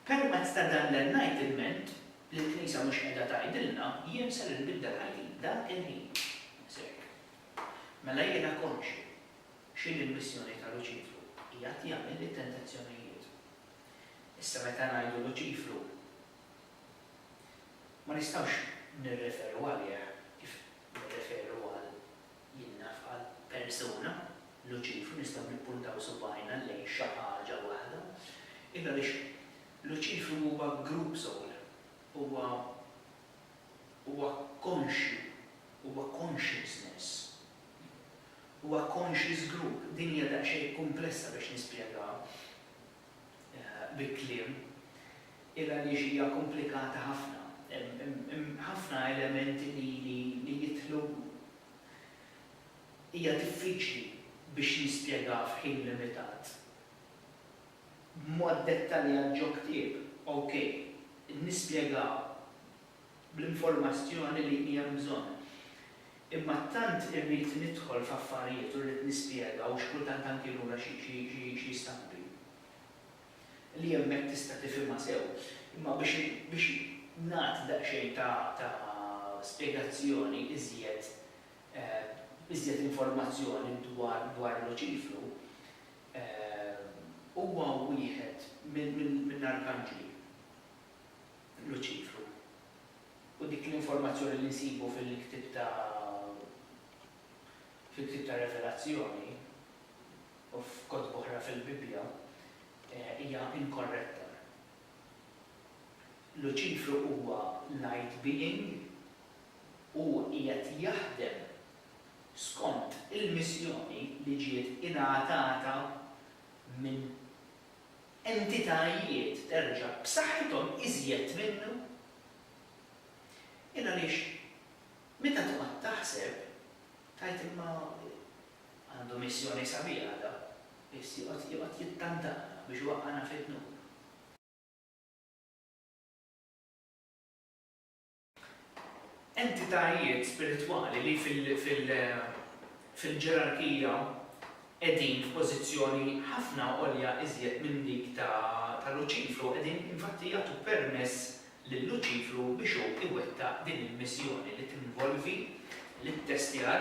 Speaker 1: permezz ta' dan l-enlightenment li l-Knisja mhux qiegħda tgħidilna, jien ser inbiddel ħajti dak il-ħin. Biss hekk. Mela jiena konxju x'inhi l-missjoni ta' Luċifru, qiegħed jagħmilli tentazzjonijiet. Issa meta ngħidu Luċifru, ma nistgħux nirreferu għalih kif nirreferu għal Jien naf għal persuna, Luċifru, nistgħu nippuntaw subgħajna lejn xi ħaġa waħda. Id għaliex Luċifru huwa group soul, huwa huwa konxju, huwa consciousness, huwa conscious group. Din hija daqsxejn kumplessa biex nispjegaha. bi kliem, il għaliex hija komplikata ħafna. Hemm ħafna elementi li jidħlu. Hija diffiċli biex nispjegaha f'ħin limitat b'mod dettaljat ġo ktieb. Okej, nispjegaha. bl-informazzjoni li hija bżonn. Imma tant irrid nidħol f'affarijiet u rrid nispjega u xi kultant anki lura xi stampi li hemmhekk tista' tifhimha sew. Imma biex nagħti daqsxejn ta' spjegazzjoni iżjed, iżjed informazzjoni dwar Luċifru, huwa wieħed mill-arkanġli. Luċifru. U dik l-informazzjoni li nsibu fil-ktieb ta' fil-ktieb tar-Revelazzjoni u f'kotba oħra fil-Bibbja hija inkorretta. Luċifru huwa light being u qiegħed jaħdem skont il-missjoni li ġiet ingħatata minn entitajiet terġa' b'saħħithom iżjed minnu? Jien għaliex meta tqgħod taħseb tgħid imma għandu missjoni sabiħa da, biss joqgħod joqgħod jittantana biex iwaqqagħna fid-dnub. Entitajiet spiritwali li fil-ġerarkija qegħdin f'pożizzjoni ħafna għolja iżjed minn dik ta' Luċifru qegħdin infatti jagħtu permess lil Luċifru biex hu iwettaq din il-missjoni li tinvolvi l-ittestjar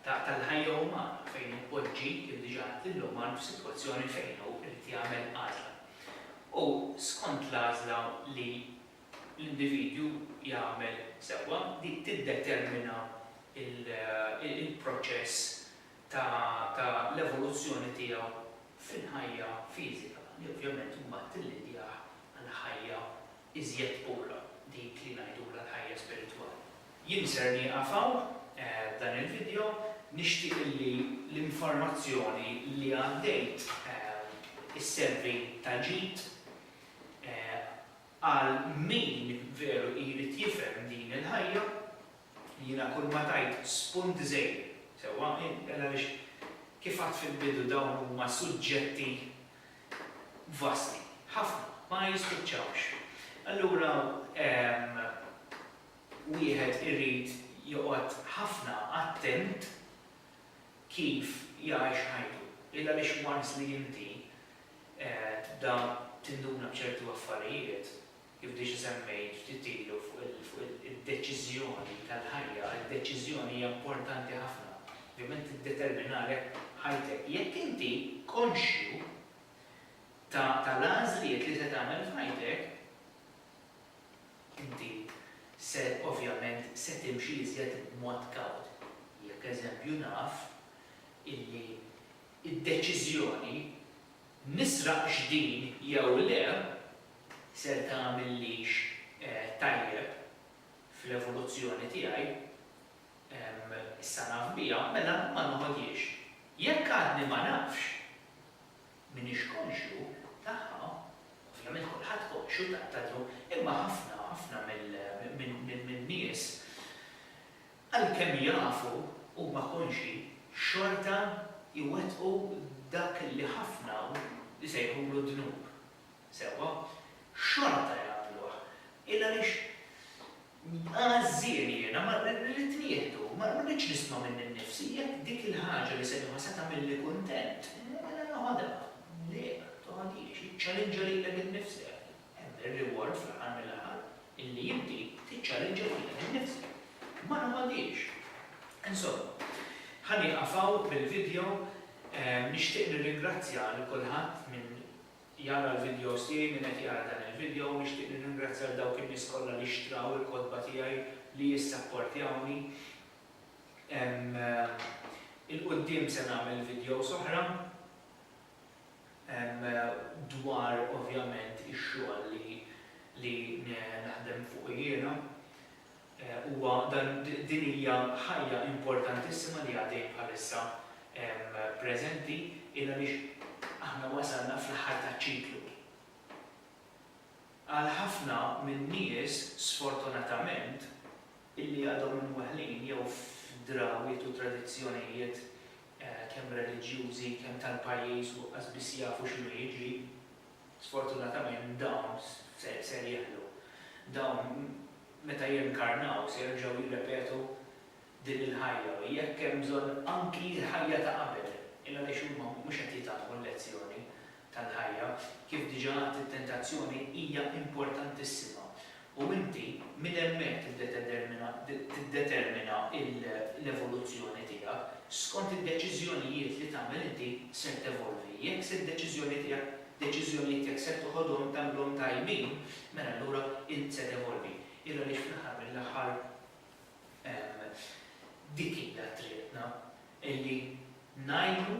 Speaker 1: tal-ħajja umana fejn ipoġġi, kif diġà għedt, lill-uman f'sitwazzjoni fejn hu jrid jagħmel għażla. U skont l-għażla li l-individwu jagħmel sewwa, dik tiddetermina l-proċess ta' l-evoluzzjoni tiegħu fil-ħajja fiżika, li ovvjament imbagħad tillidjah għal ħajja iżjed pura, dik li ngħidulha l-ħajja spiritwali. Jien ser nieqaf hawn f'dan il-vidjo, nixtieq li l-informazzjoni li għaddejt isservi ta' ġid Għal min veru jrid jifhem din il-ħajja, jiena kull ma tgħid spunt żgħir, sewwa, inqbel għaliex kif għadt fil-bidu dawn huma suġġetti vasti, ħafna, ma jispiċċawx. Allura wieħed irid joqgħod ħafna attent kif jgħix ħajtu. Illa għaliex once li inti tibda tinduna b'ċertu affarijiet, kif diġa semmejt ftit ilu fuq id-deċiżjoni tal-ħajja, id-deċiżjoni hija importanti ħafna, ovvjament tiddeterminalek ħajtek. Jekk inti konxju tal-għażliet li se tagħmel f'ħajtek, inti se ovvjament se timxi iżjed b'mod kawt. Jekk eżempju naf illi Id-deċiżjoni, nisraqx din jew le, ser tagħmillix tajjeb fl-evoluzzjoni tiegħi, issa naf biha, mela ma noħodhiex. Jekk għadni ma nafx, m'iniex konxju tagħha, ovvjament kulħadd konxju ta' ta' imma ħafna, ħafna mill-nies, Għalkemm jafu huma konxji, xorta jwettqu dak li ħafna hawn isejħulu d-dnub. Sewwa, xorta jagħmluh. Il għaliex għażżien jiena, ma rrid nieħdu, ma rridx nisma' minni nnifsi jekk dik il-ħaġa li se nieħu se tagħmilli kuntent, mela noħodha. Le, ma toħodhiex, iċċallinġa lilek innifsek. Hemm ir-reward fl-aħħar mill-aħħar illi inti tiċċallinġa lilek innifsek. Ma nagħmilhiex. Insomma, ħa nieqaf hawn bil-vidjo. Nixtieq nirringrazzja lil kulħadd min jara l-vidjos tiegħi, min qed jara dan il-vidjo u nixtieq nirringrazzja lil dawk in-nies kollha li xtraw il-kotba tiegħi li jissapportjawni. 'il quddiem se nagħmel vidjos oħra. dwar ovvjament ix-xogħol li li naħdem fuqu jiena. Huwa dan din hija ħajja importantissima li għaddejjin bħalissa preżenti il għaliex aħna wasalna fl-aħħar taċ-ċiklu. Għal ħafna min-nies sfortunatament illi għadhom imweħħlin jew f'drawwiet u tradizzjonijiet kemm reliġjużi, kemm tal-pajjiż u qas biss jafu x'inhu jiġri, sfortunatament dawn ser jeħlu. Dawn meta jinkarnaw se jerġgħu jirrepetu din il-ħajja u jekk hemm bżonn anki l-ħajja ta' qabel, il-għaliex huma mhux qed jitgħallmu l-lezzjoni tal-ħajja, kif diġà għedt it-tentazzjoni hija importantissima u inti minn hemmhekk tiddetetermina tiddetermina l-evoluzzjoni tiegħek, skont id-deċiżjonijiet li tagħmel inti ser tevolvi. Jekk se d-deċiżjoni tiegħek deċiżjonijiet jekk ser toħodhom tagħmilhom tajbin, mela allura int se tevolvi. Ira għaliex fl-aħħar mill-aħħar dik hija triqtna, illi ngħinu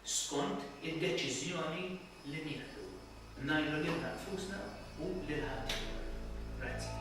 Speaker 1: skont id-deċiżjoni li nieħdu, ngħinu lilna nfusna u lil ħaddieħor. Grazzi.